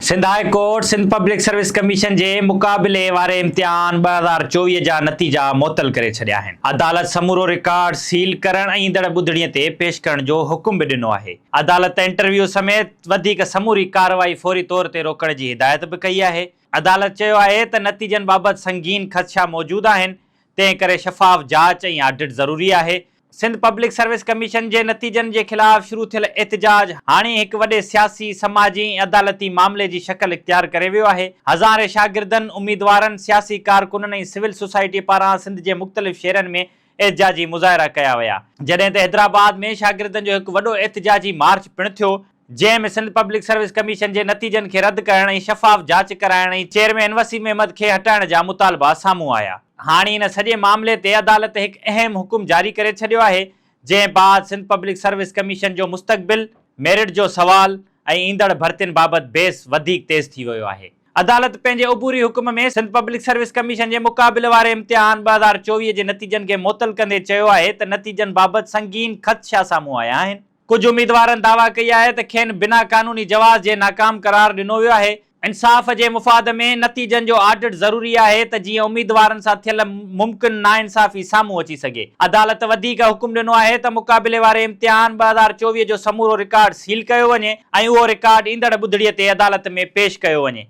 Sindh high court Sindh public service commission جي مقابلي واري امتحان ٻه هزار چوويهه جا نتيجا معطل ڪري ڇڏيا آهن. عدالت سمورو رڪارڊ سيل ڪرڻ ۽ ايندڙ ٻڌڻي تي پيش ڪرڻ جو حڪم به ڏنو آهي. عدالت انٽرويو سميت وڌيڪ سموري ڪارروائي فوري طور تي روڪڻ جي هدايت به ڪئي آهي. عدالت چيو آهي ته نتيجن بابت سنگين خدشا موجود آهن، تنهن ڪري شفاف جاچ ۽ آڊٽ ضروري آهي. سنڌ پبلڪ سروس ڪميشن جي نتيجن جي خلاف شروع ٿيل احتجاج هاڻي هڪ وڏي سياسي، سماجي ۽ عدالتي معاملي جي شڪل اختيار ڪري ويو آهي. هزارين شاگردن، اميدوارن، سياسي ڪارڪنن ۽ سول سوسائٽي پاران سنڌ جي مختلف شهرن ۾ احتجاجي مظاهرا ڪيا ويا. جڏهن ته حيدرآباد ۾ شاگردن جو هڪ وڏو احتجاجي مارچ پڻ ٿيو. جنهن ۾ سنڌ پبلڪ سروس ڪميشن جي نتيجن کي رد ڪرڻ ۽ شفاف جاچ ڪرائڻ ۽ چيئرمين وسيم احمد کي هٽائڻ جا مطالبا سامهون آيا. هاڻي ان سڄي معاملي تي عدالت هڪ اهم حڪم جاري ڪري ڇڏيو آهي، جنهن بعد سنڌ پبلڪ سروس ڪميشن جو مستقبل، ميرٽ جو سوال ۽ ايندڙ ڀرتين بابت بحث وڌيڪ تيز ٿي ويو آهي. عدالت پنهنجي عبوري حڪم ۾ سنڌ پبلڪ سروس ڪميشن جي مقابل واري امتحان ٻه هزار چوويهه جي نتيجن کي معطل ڪندي چيو آهي ته نتيجن بابت سنگين خدشا سامهون آيا آهن. ڪجهه اميدوارن دعويٰ ڪئي آهي ته کين بنا قانوني جواز جي ناڪام قرار ڏنو ويو آهي، انصاف جي مفاد ۾ نتيجن جو آڊٽ ضروري آهي ته جيئن اميدوارن سان ٿيل ممڪن ناانصافي سامهون اچي سگهي. عدالت وڌيڪ حڪم ڏنو آهي ته مقابلي واري امتحان ٻه هزار چوويهه جو سمورو رڪارڊ سيل ڪيو وڃي ۽ اهو رڪارڊ ايندڙ ٻڌڻي تي عدالت ۾ پيش ڪيو وڃي،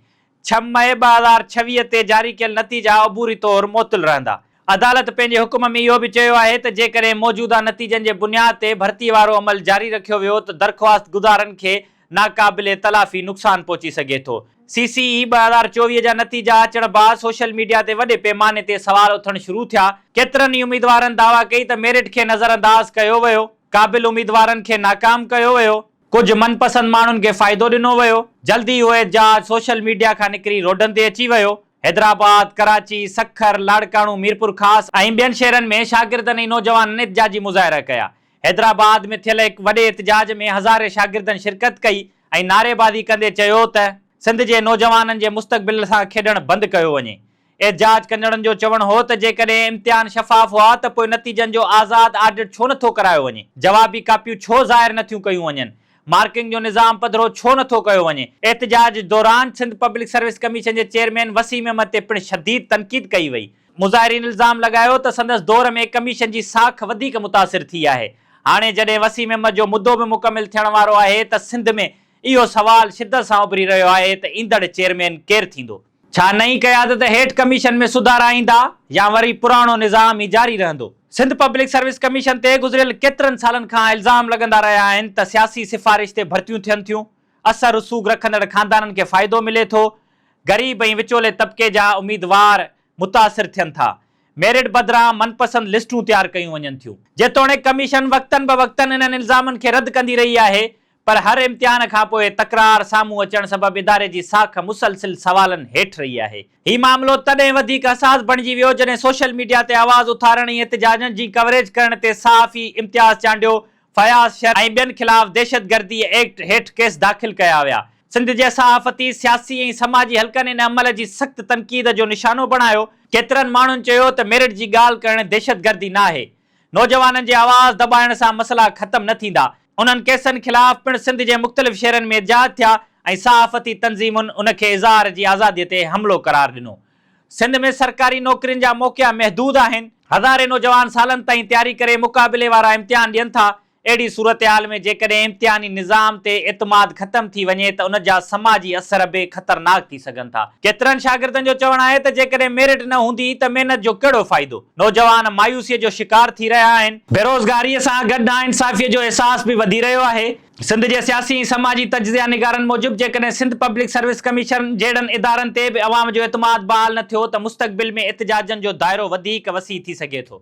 ڇهه مئي ٻه هزار ڇويهه تي جاري ڪيل نتيجا عبوري طور معطل رهندا. عدالت پنهنجي حڪم ۾ اهو به چيو آهي ته جيڪڏهن موجوده نتيجن جي بنياد تي ڀرتي وارو عمل جاري رکيو ويو ته درخواستگذارن کي ناقابل تلافي نقصان پهچي سگهي ٿو. سي سي اي ٻه هزار چوويهه جا نتيجا اچڻ بعد سوشل ميڊيا تي وڏي پيماني تي سوال اٿڻ شروع ٿيا، ڪيترن ئي اميدوارن دعويٰ ڪئي ته ميرٽ کي نظرانداز ڪيو ويو، قابل اميدوارن کي ناڪام ڪيو ويو، ڪجهه من پسند ماڻهن کي فائدو ڏنو ويو، جلد ئي اهو احتجاج سوشل ميڊيا کان نڪري روڊن تي اچي ويو، حيدرآباد، ڪراچي، سکر، لاڙڪاڻو، ميرپور خاص ۽ ٻين شهرن ۾ شاگردن ۽ نوجوانن احتجاجي مظاهرا ڪيا، حيدرآباد ۾ ٿيل هڪ وڏي احتجاج ۾ هزارين شاگردن شرڪت ڪئي ۽ نعريبازي ڪندي چيو ته سنڌ جي نوجوانن جي مستقبل سان کيڏڻ بند ڪيو وڃي، احتجاج ڪندڙن جو چوڻ هو ته جيڪڏهن امتحان شفاف هئا ته پوء نتيجن جو آزاد آڊٽ ڇو نٿو ڪرايو وڃي؟ جوابي ڪاپيون ڇو ظاهر نٿيون ڪيون وڃن؟ مارڪنگ جو نظام پڌرو ڇو نٿو ڪيو وڃي؟ احتجاج دوران سنڌ پبلڪ سروس ڪميشن جي چيئرمين وسيم احمد تي پڻ شديد تنقيد ڪئي وئي. مظاهرين الزام لڳايو ته سندس دور ۾ ڪميشن جي ساک وڌيڪ متاثر ٿي آهي. هاڻي جڏهن وسيم احمد جو مدو به مڪمل ٿيڻ وارو آهي ته سنڌ ۾ اهو سوال شدت سان اڀري رهيو آهي ته ايندڙ چيئرمين ڪير ٿيندو؟ ڇا نئين قيادت هيٺ ڪميشن ۾ سڌارا ايندا يا وري پراڻو نظام ئي جاري رهندو؟ سنڌ پبلڪ سروس ڪميشن تي گذريل ڪيترن سالن کان الزام لڳندا رهيا آهن ته سياسي سفارش تي ڀرتيون ٿين ٿيون، اثر رسوخ رکندڙ خاندانن کي فائدو ملي ٿو، غريب ۽ وچولي طبقي جا اميدوار متاثر ٿين ٿا، ميرٽ بدران من پسند لسٽون تيار ڪيون وڃن ٿيون. جيتوڻيڪ ڪميشن وقتن بوقتن انهن الزامن کي رد ڪندي رهي آهي، پر هر امتحان کان پوء تڪرار سامهون اچڻ سبب اداري جي ساک مسلسل سوالن هيٺ رهي آهي. هي معاملو تڏهن وڌيڪ حساس بڻجي ويو جڏهن سوشل ميڊيا تي آواز اٿارڻ ۽ احتجاجن جي ڪوريج ڪرڻ تي صحافي امتياز چانڊيو، فياض شر ۽ ٻين خلاف دهشت گردي ايڪٽ هيٺ ڪيس داخل ڪيا ويا. سنڌ جي صحافتي، سياسي ۽ سماجي حلقن ان عمل جي سخت تنقيد جو نشانو بڻايو. ڪيترن ماڻهن چيو ته ميرٽ جي ڳالهه ڪرڻ دهشت گردي ناهي. نوجوانن جي آواز دٻائڻ سان مسئلا ختم نه ٿيندا. انهن ڪيسن خلاف پڻ سنڌ جي مختلف شھرن ۾ احتجاج ٿيا ۽ صحافتي تنظيمن ان کي اظهار جي آزادي تي حملو قرار ڏنو. سنڌ ۾ سرڪاري نوڪرين جا موقعا محدود آهن. هزارين نوجوان سالن تائين تياري ڪري مقابلي وارا امتحان ڏين ٿا اهڙي صورتحال ۾ جيڪڏهن امتحاني نظام تي اعتماد ختم ٿي وڃي ته ان جا سماجي اثر به خطرناڪ ٿي سگهن ٿا. ڪيترن شاگردن جو چوڻ آهي ته جيڪڏهن ميرٽ نه هوندي ته محنت جو ڪهڙو فائدو؟ نوجوان مايوسيء جو شڪار ٿي رهيا آهن. بيروزگاريء سان گڏ ناانصافيء جو احساس به وڌي رهيو آهي. سنڌ جي سياسي ۽ سماجي تجزيا نگارن موجب جيڪڏهن سنڌ پبلڪ سروس ڪميشن جهڙن ادارن تي به عوام جو اعتماد بحال نه ٿيو ته مستقبل ۾ احتجاجن جو دائرو وڌيڪ وسيع ٿي سگهي ٿو.